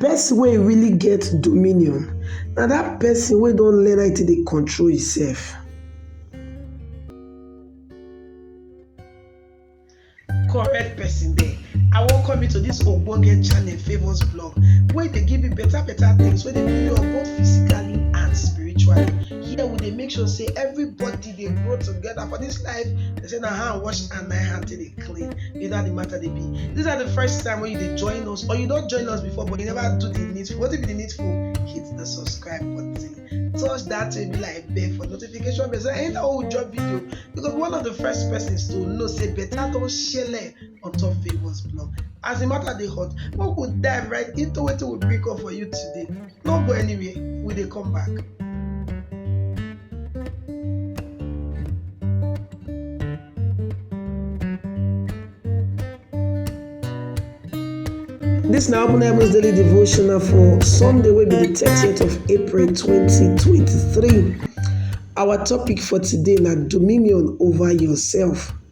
Person wey really get dominion na dat person wey don learn how e take dey control im self. Correct person dey, I welcome you to dis ogbonge channel Favour's Vlog wey dey give you better better things wey dey build you up both physically and spiritually. Here we dey make sure sey everybody dey grow together for this life they say na hand wash and na hand take dey clean you know how the matter dey be this na the first time wey you dey join us or you don join us before but you never do the needful wetin be the needful hit the subscribe button touch that baby like bell for notification bell so anytime wey we drop video you go be one of the first persons to know say better don shele on top favours blog as the matter dey hot make we dive right into wetin we bring come for you today no go anywhere we dey come back. This na Open Heavens Daily Devotional for Sunday wey be the 30th of April 2023. Our topic for today na dominion over yourself.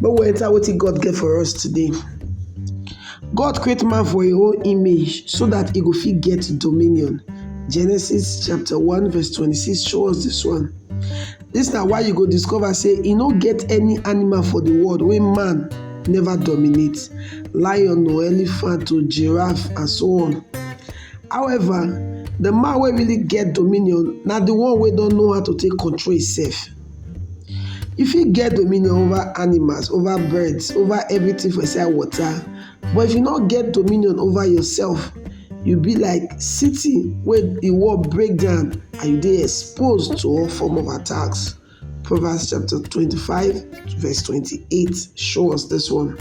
Make we enter wetin God get for us today. God create man for im own image so that e go fit get dominion. Genesis chapter 1 verse 26 show us this one. This na why you go discover say e no get any animal for the world wey man never dominate. Lion or elephant or giraffe and so on. However, the man wey really get dominion na the one wey don know how to take control himself. You fit get dominion over animals, over birds, over everything for inside water but if you no get dominion over yourself you be like city wey de wall break down and you dey exposed to all form of attacks. Proverbs chapter twenty five verse twenty eight show us this one.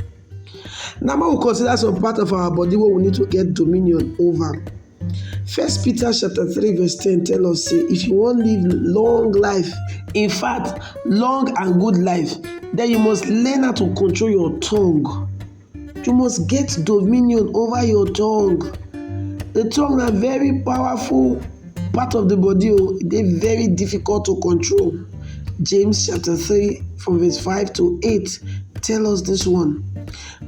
Now make we consider some part of our body wey we need to get dominion over. First Peter chapter 3 verse 10 tell us say if you wan live long life, in fact long and good life, then you must learn how to control your tongue. You must get dominion over your tongue. The tongue na very powerful part of the body o, oh. e dey very difficult to control. James chapter 3 from verse 5 to 8 tell us this one.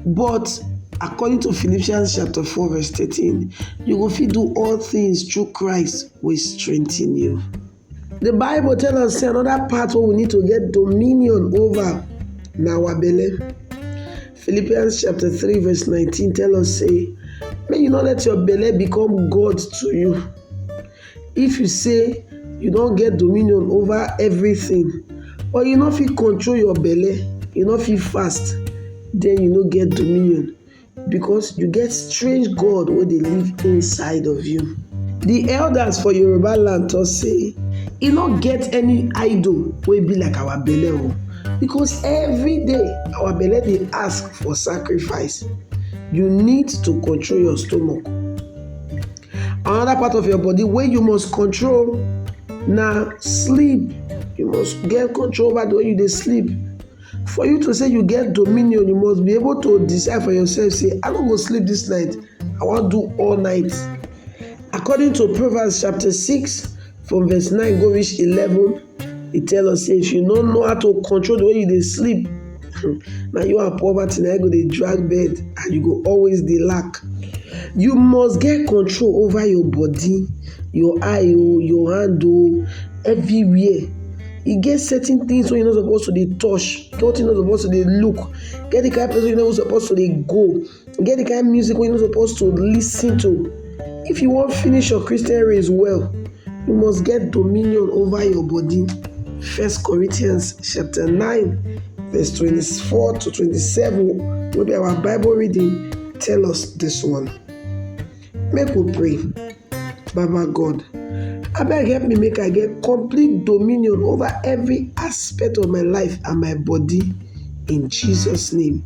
But, according to Philippians chapter 4 verse 13, you go fit do all things through Christ wey strengthen you. The Bible tell us say another part wey we need to get dominion over na our belle. Philippians chapter 3 verse 19 tell us say make you no let your belle become God to you. If you say you don get dominion over everything but you no fit control your belle, you no fit fast, then you no get dominion because you get strange God wey dey live inside of you. The elders for Yoruba land talk say e no get any idol wey be like our belle o oh, because every day our belle dey ask for sacrifice. You need to control your stomach. Another part of your body wey you must control na sleep. You must get control over the way you dey sleep. For you to say you get dominion, you must be able to decide for yourself say I no go sleep this night, I wan do all night. According to Proverbs chapter six from verse nine go reach eleven. He tell us say if you no know how to control the way you dey sleep, hmm, na you and poverty na go dey drag bed and you go always dey lack. You must get control over your body, your eye oh, your hand oh, everywhere. E get certain things wey you no suppose to dey touch, get wetin you no suppose to dey look, get the kind place wey you no suppose to dey go. e get the kind music wey you no suppose to lis ten to if you wan finish your christian race well you must get dominion over your body first corinthians chapter 9 verse 24 to 27 wey be our bible reading tell us this one make we pray baba god abeg help me make i get complete dominion over every aspect of my life and my body in jesus name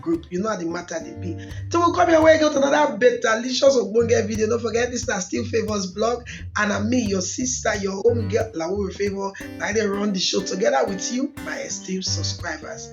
group you know how the matter dey be till we come here wey get another betalicious ogbonge video no forget this na still favours blog and na me your sister your home girl lawore favour na i dey run the show together with you my esteemed subscribers.